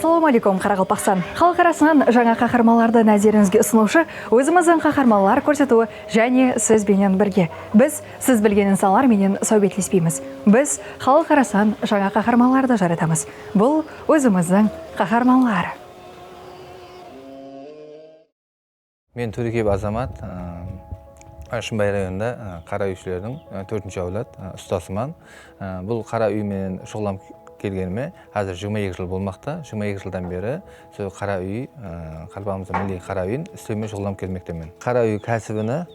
Assalawma aleykum Qaraqalpaqstan xalıq arasınan jańa qaharmanlardı názerińizge usınıwshı ózimizdiń qaharmanlar kórsetiwi jáne siz benen birge biz siz bilgen insanlar menen sáwbetlespeymiz biz xalıq arasınan jańa qaharmanlardı jaratamız bul ózimizdiń qaharmanlar. Men Túrkiyeb Azamat, Shımbay rayonında qara úyshilerdin tórtinshi áwlad ustasıman. Bul qara úy menen shuǵıllanıp kelgenime házir jigirma eki jıl bolmaqta. Jigirma eki jıldan beri sol qara úy, Qaraqalpaqımızdın milliy qara úyin islewmen shuǵıllanıp kelmektemen. Qara úy kásibine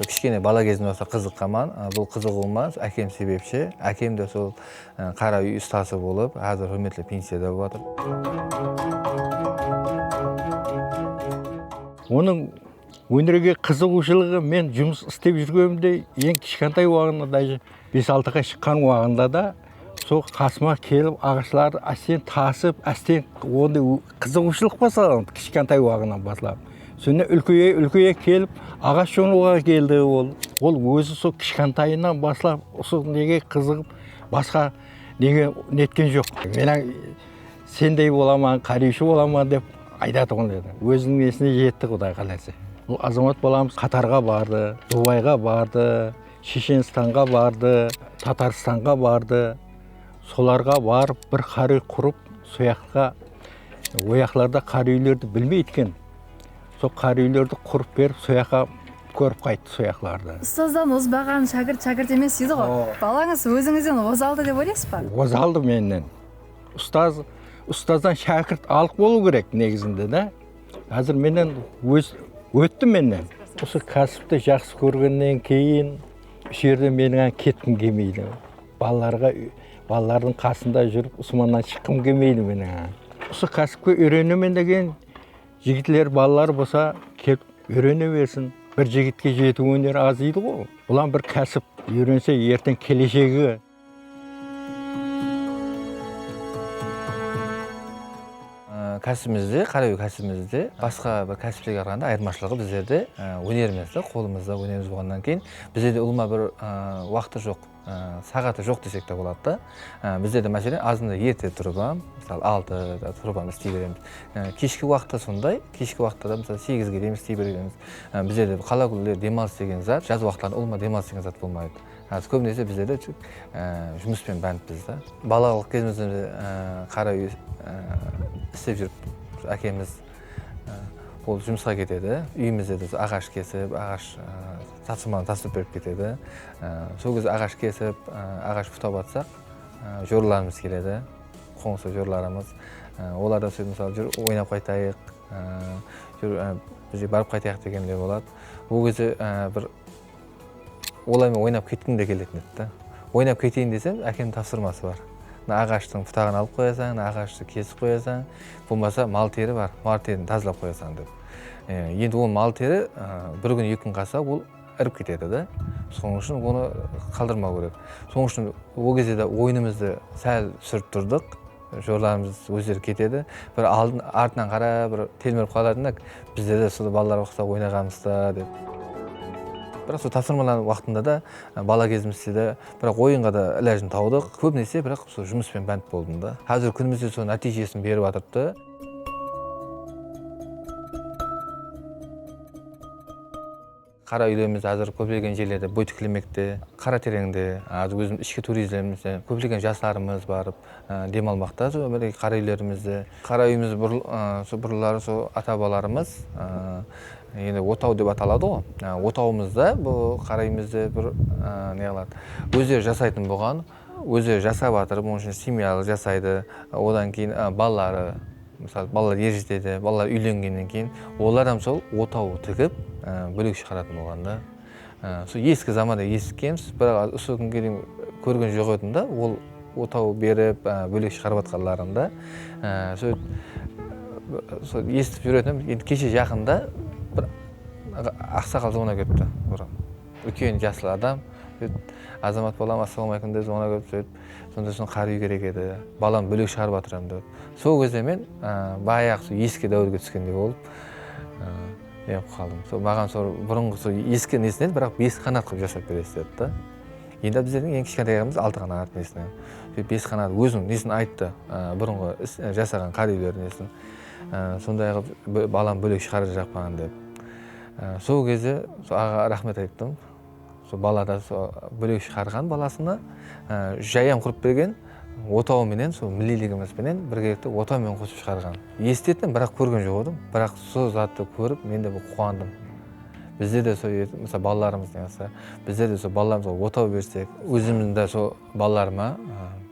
kishkene bala gezimden bastap qızıqqanman. Bul qızıǵıwıma ákem sebepshi. Ákem de sol Qara úy ustası bolıp, házir húrmetli pensiyada bolıp atır. Onıń ónerge qızıǵıwshılıǵı men jumıs istep júrgenimde eń kishkantay waǵında dáje bes-altıǵa shıqqan waǵında da sol qasıma kelip aǵashlardı ásteń tasıp, ásteń onday qızıǵıwshılıq baslaǵan kishkantay waǵınan baslap. Sonnan úlkeye-úlkeye kelip aǵash jonıwǵa keldi ol. Ol ózi sol kishkantayınan baslap usı nege qızıǵıp Basqa nege netken joq. Mena sendey bolaman, qáriyshi bolaman dep aytatuǵın edi. Óziniń nesine jetti quday qalaysa. Bul Azamat balamız Qatarǵa bardı, Dubayǵa bardı, Sheshenistanǵa bardı, Tatarstanǵa bardı. Solarǵa barıp bir qáriy qurıp soyaqqa oyaqlarda qáriylerdi bilmeydi eken. Sol qári úylerdi qurıp berip soyaqqa kórip qayttı soyaqlardı. Ustazdan ozbaǵan shágirt shágirt emes deydi ǵo. Balańız ózińizden ozaldı dep oylaysız ba? Ozaldı mennen. Ustaz ustazdan shágirt alıq bolıu kerek negizinde da. Házir mennen óz ótti mennen. Usı kásipti jaqsı kórgennen keyin usı jerden meniń án ketkim kelmeydi. Balalarǵa balalardıń qasında júrip usmannan shıqqım kelmeydi meniń án. Usı kásipke úyrenemen degen. Jigitler balalar bolsa kelip úyrene bersin bir jigitke jeti óner az deydi ǵo bulam bir kásip úyrense erteń keleshegi. Kásibimizde qara úy kásibimizde basqa bir kásiplerge qaraganda ayırmashılıǵı bizlerde ónerimiz da qolımızda ónerimiz bolǵannan keyin bizlerde ulıwma bir uaqıt ta joq. Saǵatı joq desek te boladı da. Bizde de máselen azında erte turıp ham, mısalı altı da turıp ham isley beremiz. Keshki waqıtta sonday, keshki waqıtta da mısalı segizge deyin isley beremiz. Bizde de qala kúnleri demalıs degen zat, jaz waqıtlarında ulıwma demalıs degen zat bolmaydı. Házir kóbinese bizler de tek jumıspen bántpız da. Balalıq kezimizden de qara úy islep júrip ákemiz ol jumısqa ketedi. Úyimizde de aqash kesip, aqash Tapsırmanı tasırıp berip ketedi. Sol kez aǵash kesip, aǵash putap atsaq, jorılarımız keledi, qońsı jorılarımız. Olardan sóz mısalı júr oynap qaytayıq, júr bizge barıp qaytayıq degenler boladı. Ol keze bir olarmen oynap ketkim de keletin edi da. Oynap keteyin desem, ákemniń tapsırması bar. Mına aǵashtıń putaǵın alıp qoyasań, mına aǵashtı kesip qoyasań, bolmasa mal teri bar, mal terini tazalap qoyasań dep. Endi ol mal teri bir kún eki kún qalsa ol irip ketedi da sonıń ushın onı qaldırmaw kerek sonıń ushın ol gezde de oyınımızdı sál túsirip turdıq joralarımız ózleri ketedi bir aldın artınan qarap bir telmirip qalardı da bizde de usıda balalar uqsa oynaǵamızda dep biraq sol tapsırmalar waqtında da bala gezimizde de biraq oyınǵa da ilajın tawdıq kóbinese biraq usı jumıspenen bánt boldım da xázirgi kúnimizde sol nátiyjesin berip atırıptı Qara úylerimiz házir kóplegen jerlerde bóy tiklemekte, Qaratereńde, házir ózimiz ishki turizmde kóplegen jaslarımız barıp dem almaqta sol mineki qara úylerimizdi. Qara úyimiz burınları sol ata-babalarımız endi otaw dep ataladı-ǵo, otawımızda bul qara úyimizdi bir ne qıladı, ózleri jasaytın bolǵan. Ózi jasap atır, bunıń ushın semyalı jasaydı, odan keyin balaları, mısal, balalar er jetedi, balalar úylengennen keyin olar hám sol otaw tigip bólek shıǵaratın bolǵan da. Usı eski zamanda esitkemiz, biraq házir usı kúnge deyin kórgen joq edim da ol otaw berip bólek shıǵarıp atqanların da. Sol esitip júretuǵın edim, endi keshe jaqında bir aqsaqal jolına ketipti. Úlken jaslı adam sóytip Azamat balam Assalauma aleykum dedi ona kóyip sóytip sonda usin qar úy kerek edi balam bólek shıǵarıp atıram dedi sol gezde men bayaǵı sol eski dáuirge túskendey bolıp neǵip qaldım sol maǵan sol burınǵı sol eski nesin edi biraq bes qanat qılıp jasap beresiz dedi da endi bizlerdiń eń kishkentayǵamız altı qanat nesinen sóytip bes qanat óziniń nesin ayttı burınǵı jasaǵan qar úylerdi nesin sonday qılıp balam bólek shıǵarıp jaqpan dep Sol gezde sol aǵaǵa raxmet ayttım. Sol bala da sol bólek shıǵarǵan balasına jay ham qurıp bergen, otawı menen sol milliyligimiz benen birgelikte otaw menen qosıp shıǵarǵan. Esitetin, biraq kórgen joq edim. Biraq sol zattı kórip men de bir quwandım. Bizde de sol edi, mısal balalarımız niyazsa, bizler de sol balalarımızǵa otaw bersek, ózimizdiń de sol balalarıma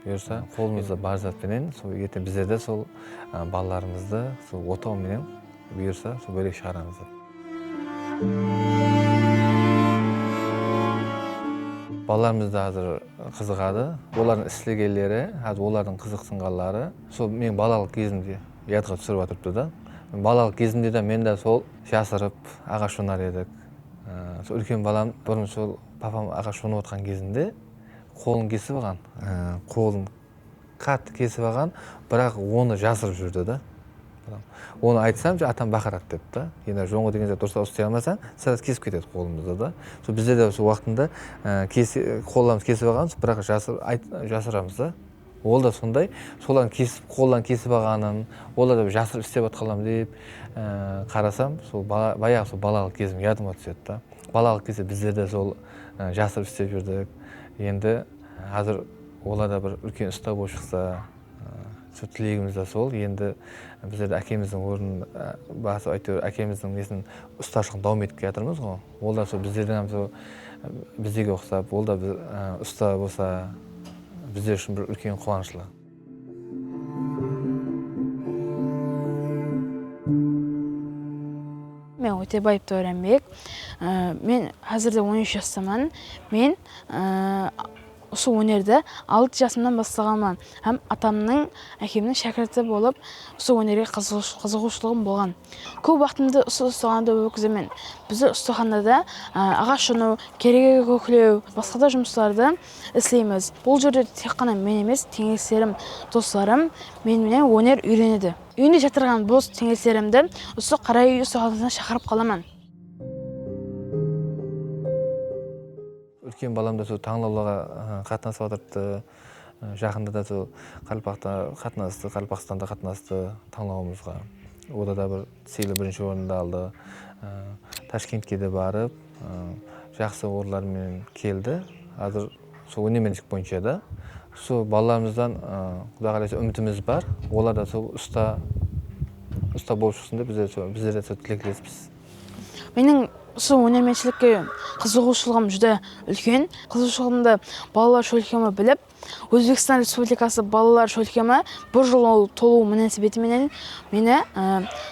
buyırsa, qolımızda bar zat penen sol erteń bizler de sol balalarımızdı sol otaw menen Buyırsa, sol bólek shıǵaramız dep. Balalarımız da házir qızıǵadı. Olardıń islegenleri, házir olardıń qızıqsınǵanları sol meniń balalıq gezimdi yadqa túsirip atırıptı da. Balalıq gezimde de men de sol jasırıp aǵash jonar edik. Sol úlken balam burın sol papam aǵash jonıp atırǵan gezinde qolın kesip alǵan. Qolın. Qattı kesip alǵan biraq onı jasırıp júrdi da onı aytsam ja atam baqıradı dep da ena jońǵa degen zat durıslap uslay almasań sraz kesip ketedi qolımızdı da so bizde de so uaqtında qollarımızdı kesip alǵanbız biraq jasıramız da ol da sonday solardıń kesip qolların kesip alǵanın olar da bir jasırıp islep atqanlarım dep qarasam so bayaǵı so balalıq kezim yadıma túsedi da balalıq keze bizler de sol jasırıp islep júrdik endi xázir Olar da bir úlken usta bolıp shıqsa sól tilegimiz da sol endi bizler de ákemizdiń ornın basıp áyteuir ákemizdiń nesin ustashılıqtı dauam etip kiyatırmız ǵo ol da sol bizlerdiń hám sol bizdege uqsap ol da usta bolsa bizler ushın bir úlken quuanıshlı. Men Ótebaev Daurenbek. Men házirde on úsh jastaman. Men. Usı ónerdi alt jasımnan baslaǵanman hám atamnıń, ákemniń shákirti bolıp usı ónerge qızıǵıwshılıǵım bolǵan. Kóp waqtımdı usı ustaxanada ótkizemen. Bizde ustaxanada aǵash jonıw, keregege kóklew, basqada jumıslardı isleymiz. Bul jerde tek ǵana men emes, teńeslerim, doslarım men menen óner úyrenedi. Úyinde jatırǵan bos teńeslerimdi usı qara úy ustaxanasına shaqırıp qalaman. Úlken balam da sol tańlawlarǵa qatnasıp atırdı. Jaqında da sol Qaraqalpaqta qatnastı, Qaraqalpaqstanda qatnastı tańlawımızǵa. Onda da bir sıylı birinshi orındı aldı. Tashkentke de barıp, jaqsı orınlar menen keldi. Házir sol ónermenlik boyınsha da. Sol balalarımızdan Quday qalaysa úmitimiz bar. Olar da sol usta, usta bolıp shıqsın dep bizler de sol tileklespiz. Meniń usı ónermenshilikke qızıǵıwshılıǵım júdá úlken. Qızıǵıwshılıǵımdı Balalar shólkemi bilip, Ózbekstan Respublikası Balalar shólkemi bir jıl tolıwı múnásibeti menen meni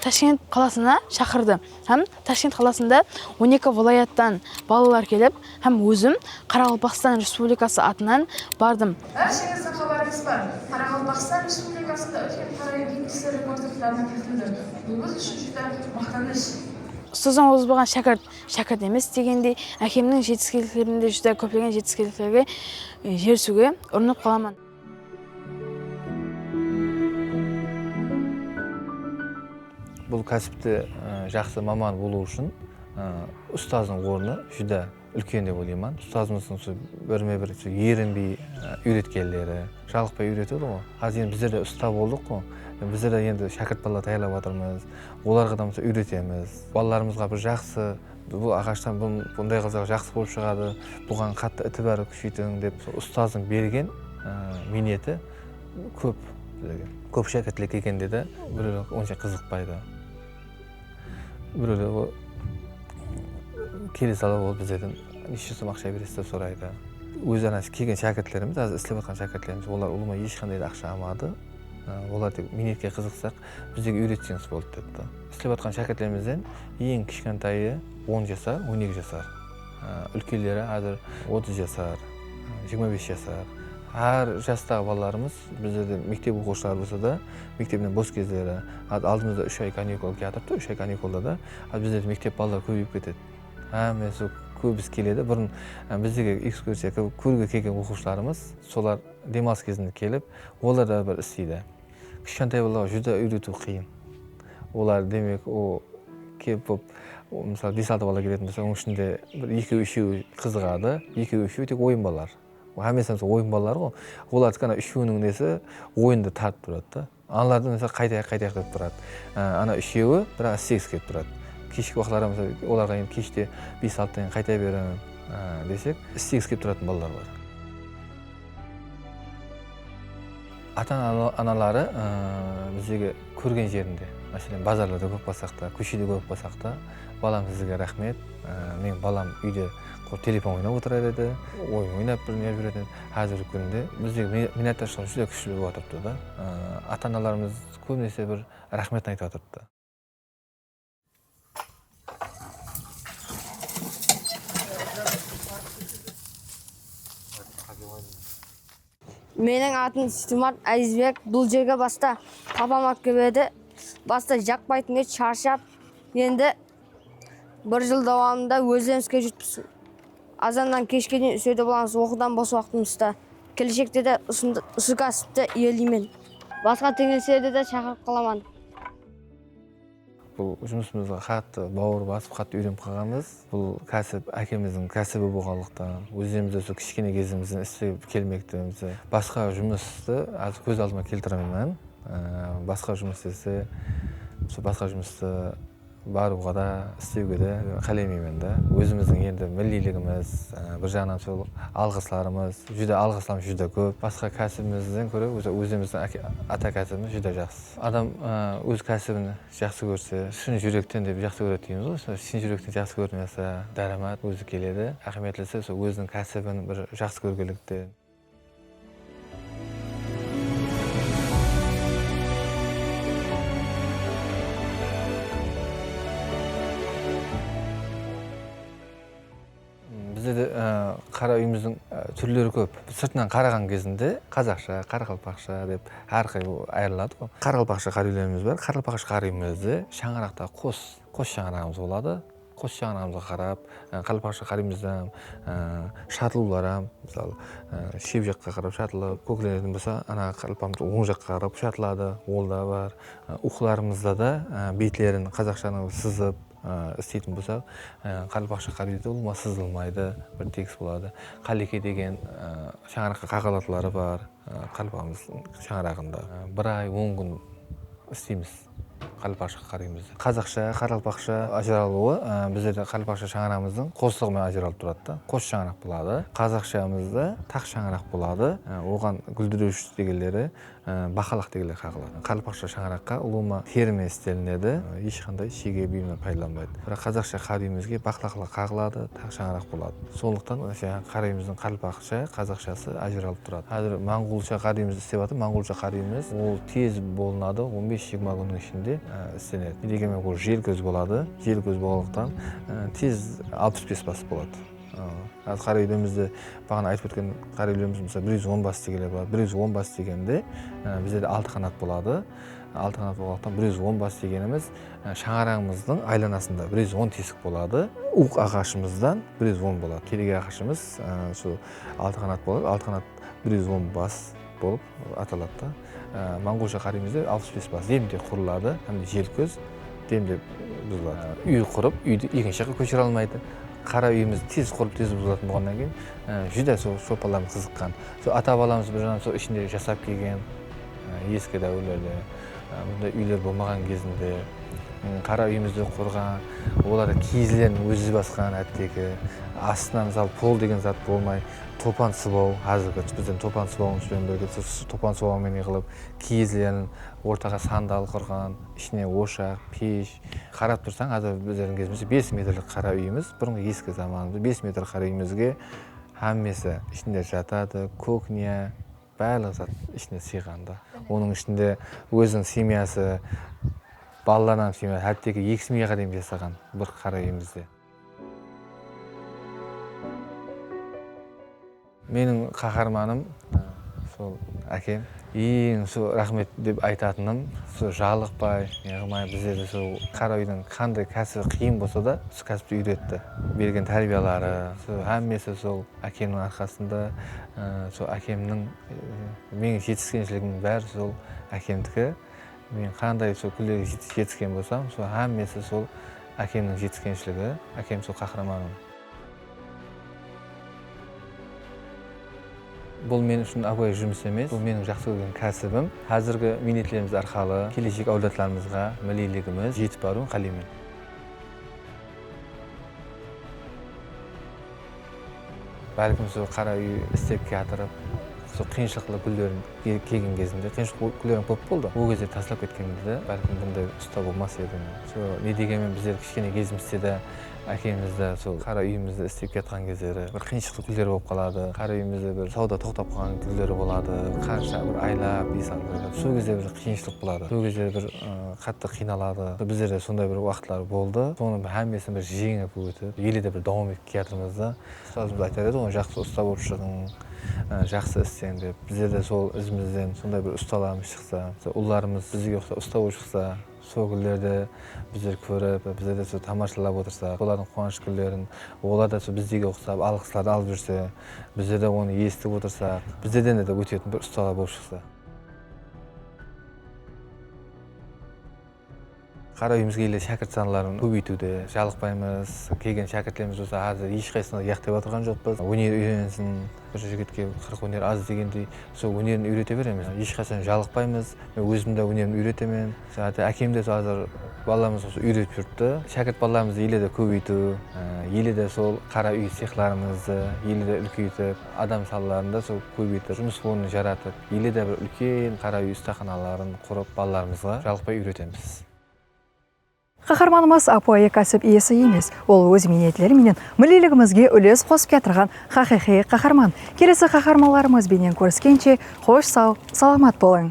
Tashkent qalasına shaqırdı hám Tashkent qalasında on eki vilayattan balalar kelip, Hám ózim Qaraqalpaqstan Respublikası atınan bardım. Bársheńizdiń xabarıńız bar, Qaraqalpaqstan Respublikasında úlken qáráy gipsli rekonstruktorına kiritildi. Bul biz ushın júdá maqtanısh. Ustazdıń ozbaǵan shákirt, shákirt emes degendey, ákemniń jetiskenliklerinde júdá kóplegen jetiskenliklerge erisiwge urınıp qalaman. Bul kásipti jaqsı maman bolıw ushın ustazdıń ornı júdá úlken dep oylayman. Ustazımızdıń usı birme bir erinbey úyretkenleri, jalıqpay úyretedi ǵo. Házir endi bizler de usta boldıq ǵo. Bizler de endi shákirt bala tayarlap atırmız. Olarǵa da úyretemiz. Balalarımızǵa bir jaqsı. Bul aǵashtan bunday qılsaq jaqsı bolıp shıǵadı, buǵan qattı itibar kúsheytiń dep sol ustazdıń bergen miyneti kóp bizlerge. Kóp shákirtler kelgende de birewler onsha qızıqpaydı. Birewler ol kele sala ol bizlerden neshe som aqsha beresiz dep soraydı. Ózi ana kelgen shákirtlerimiz házir islep atırǵan shákirtlerimiz olar ulıwma esh qanday da aqsha almadı. Olar tek miynetke qızıqsaq bizlerge úyretseniz boldı depti. Islep atqan shákirtlerimizden eń kishkantayı on jasar, on eki jasar. Úlkenleri házir otız jasar, jigirma bes jasar. Hár jastaǵı balalarımız bizlerde mektep oqıwshıları bolsa da, mektepten bos gezleri, házir aldımızda úsh ay kanikul kiyatırıptı, úsh ay kanikulda da házir bizlerde mektep balaları kóbeyip ketedi. Hámmesi kóbisi keledi. Burın bizlerge ekskursiya kórge kelgen oqıwshılarımız solar dem alıs kezinde kelip, olar da bir isleydi. Kishkentay balaǵa júdá úyretiw qıyın. Olar demek o kep bop mısal bes altı bala keleten bolsa onıń ishinde bir ekew úshewi qızıǵadı ekew úshewi tek oyın balalar hámmesi mısal oyın balalar ǵo olardı kána úshewiniń nesi oyındı tartıp turadı da anılardı mısal qaytayıq qaytayıq dep turadı ana úshewi biraq istegisi kelip turadı keshki uaqıtlarda mısal olarǵa endi keshte bes altıdan keyin qaytay beriń desek istegisi kelip turatın balalar bar. Ata anaları bizdegi kórgen jerinde máselen bazarlarda kórip qalsaqta kóshede kórip qalsaqta balam sizge raxmet meniń balam úyde telefon oynap otırar edi oyın oynap bir ne berетін edi xázirgi kúnde bizdegi minnatdarshılıq júdá kúshli bolıp atırıptı da ata analarımız kóbinese bir raxmetin aytıp atırıptı. Meniń atım Stimart Ázizbek. Bul jerge basta papam alıp kelip edi. Basta jaqpaytın edi, sharshap. Endi bir jıl dawamında ózden iske júrtpis. Azannan keshke deyin úserde bolamız, oqıwdan bos waqtımızda. Keleshekte de usı kásipti iyeleymen. Basqa teńleslerdi de shaqırıp qalaman. Bul jumısımızǵa qattı bawır basıp, qattı úyrenip qalǵanbız. Bul kásip ákemizdiń kásibi bolǵanlıqtan, ózlerimiz de usı kishkene gezimizden islep kelmekpemiz. Basqa jumıstı házir kóz aldıma keltiremen. Basqa jumıs dese, usı basqa jumıstı barıwǵa da, islewge de qálemeymen da. Ózimizdiń endi milliyligimiz, bir jaǵınan sol alǵıslarımız, júdá alǵıslarımız júdá kóp. Basqa kásibimizden kóre ózimizdiń ata kásibimiz júdá jaqsı. Adam óz kásibin jaqsı kórse, shın júrekten dep jaqsı kóredi deymiz ǵoy, sol shın júrekten jaqsı kórdim jasa, dáramat ózi keledi. Áhmiyetlisi sol óziniń kásibin bir jaqsı kórgenlikte. Bizde de qara úyimizdiń túrleri kóp. Sırtınan qaraǵan kezinde qazaqsha, qaraqalpaqsha dep hár qıylı ayırıladı ǵo. Qaraqalpaqsha qara úylerimiz bar. Qaraqalpaqsha qara úyimizde shańaraqta qos, qos shańaraǵımız boladı. Qos shańaraǵımızǵa qarap qaraqalpaqsha qara úyimizdiń shatılıwları hám mısalı shep jaqqa qarap shatılıp, kóklenетін bolsa ana qaraqalpaqımız oń jaqqa qarap shatıladi, ol da bar. Uyqılarımızda da betlerin qazaqshanı sızıp. Isteytin bolsaq qálip aqsha qálip deydi ol sızılmaydı bir tekis boladı qáleke degen shańaraqqa qaǵal atları bar qálipamız shańaraǵında bir ay on kún isteymiz qálip aqsha qaraymızda qazaqsha qaraqalpaqsha ajıralıwı bizlerde qálip aqsha shańaraǵımızdıń qoslıǵı menen ajıralıp turadı da qos shańaraq boladı qazaqshamızda taq shańaraq boladı oǵan gúldirewshi degenleri Baqalaq degilli qaǵıladı. Qarlıpaqsha shańaraqqa ulıwma terme istelinedi. Esh qanday shege buyımlar paydalanbaydı. Biraq qazaqsha qa buyımizge baqlaqla qaǵıladı, taq shańaraq boladı. Sonlıqtan saǵan qa buyımızdıń qarlıpaqsha, qazaqshası ajıralp turadı. Xázir mańǵulsha qa buyımızdı istep atır. Mańǵulsha qa buyımız ol tez bolınadı, on bes jigirma kúnniń ishinde istenedi. Degenmen ol jelkóz boladı. Jelkóz bolǵanlıqtan tez alpıs bes basıp boladı. Házir qáregilerimizde baǵana aytıp ótken qáregilerimiz mısal bir júz on bas degenler bar bir júz on bas degende bizlerde altı qanat boladı altı qanat bolǵanlıqtan bir júz on bas degenimiz shańaraǵımızdıń aylanasında bir júz on tesik boladı uwıq aǵashımızdan bir júz on boladı keregi aǵashımız sol altı qanat boladı altı qanat bir júz on bas bolıp ataladı da. Monǵolsha qaraymızda alpıs bes bas demde qurıladı hám jel kóz demde buzıladı. Úy qurıp úydi ekinshi jaqqa kóshire almaydı. Qara úyimiz tez qurıp tez buzılatıń bolǵannan keyin júdá sol sopalarǵa qızıqqan. Sol ata balamız bir jaǵınan sol ishinde jasap kelgen eski dáwirlerde bunday úyler bolmaǵan gezinde qara úyimizdi qurǵan olar kiyizlerin ózi basqan hátteki astına misal pol degen zat bolmay Topan sıbaw, házirgi bizden topan sıbawımız benen birge s topan sıbaw menen qılıp kiyizlerin ortaǵa sandal qurǵan, ishine oshaq, pesh, qarap tursań házir bizlerdiń kezimizshe bes metrlik qara úyimiz, burınǵı eski zamanımızda bes metr qara úyimizge hámmesi ishinde jatadı, kuknya, bárlıq zat ishine sıyǵandı. Onıń ishinde óziniń semyası, balalarınan, hátteki eki semyaǵa deyin jasaǵan bir qara úyimizde. Meniń qaharmanım sol ákem. Eń sol raxmet dep aytatınım sol jalıqpay neǵımay bizlerdi sol qara úydiń qanday kásibi qıyın bolsa da sol kásipti úyretti. Bergen tárbiyaları sol hámmesi sol ákemniń arqasında sol ákemniń meniń jetiskenshiligimin bári sol ákemdiki. Men qanday sol kúnlerge jetisken bolsam sol hámmesi sol Ákemniń jetiskenshligi, ákem sol qahramanım. Bul men ushın águay jumıs emes, bul meniń jaqsı kórgen kásibim. Házirgi miynetlerimiz arqalı keleshek áwladlarımızǵa milliyligimiz jetip barıwın qáleymen. Bálkim usı qara úy istep kiyatırıp, usı qıyınshılıqlı kúnlerin kelgen gezinde, qıyınshılıqlı kúnlerim kóp boldı. Ol gezde taslap ketkenimizde bálkim bunday usta bolmas edim. Usı ne degenmen bizler kishkene gezimizde de ákemizdi usı qara úyimizdi istep kiyatqan gezleri bir qıyınshılıqlı kúnleri bolıp qaladı. Qara úyimizde bir sawda toqtap qalǵan kúnleri boladı. Qansha bir aylap, ey salǵırtırıp, sol gezde bir qıyınshılıq boladı. Sol gezde bir Qattı qıynaladı bizlerde sonday bir uaqıtlar boldı sonın xámmesin bir jeńip ótip ele de bir dauam etip kiyatırmız da ustazımız aytar edi ǵoy jaqsı usta bolıp shıǵıń jaqsı isleń dep bizlerde sol izimizden sonday bir ustalarımız shıqsa ullarımız bizge uqsap usta bolıp shıqsa sol gúllerdi bizler kórip bizlerde sol tamashalap otırsak olardıń quuanısh gúllerin olar da sol bizdege uqsap alǵıslardı alıp júrse bizlerde onı esitip otırsak bizlerden de ótetin bir ustalar bolıp shıqsa. Qara úyimizge ele shákirt sanların kóbeytiwdi jalıqpaymız. Kelgen shákirtlerimiz bolsa házir eshqaysısına da uyaqtep atırǵan joqpız. Óner úyrenisin, bir jigitke qırıq óner az degendey, sol ónerin úyrete beremiz. Eshqashan jalıqpaymız. Men ózim de ónerimdi úyretemen. Hátta ákem de házir balalarımızǵa sol úyretip júrdi. Shákirt balalarımızdı ele de kóbeytiw, ele de sol qara úy sexlarımızdı ele de úlkeytip. Adam sallarında sol kóbeytip, jumıs ornın jaratıp, ele de bir úlken qara úy ustaxanaların qurıp, balalarımızǵa jalıqpay úyretemiz. Qaharmanımız ápiwayı kásip iyesi emes, ol óz miynetleri menen milliyligimizge úles qosıp kiyatırǵan haqıyqıy qaharman. Kelesi qaharmanlarımız benen kóriskenshe, xosh saw, salamat bolıń!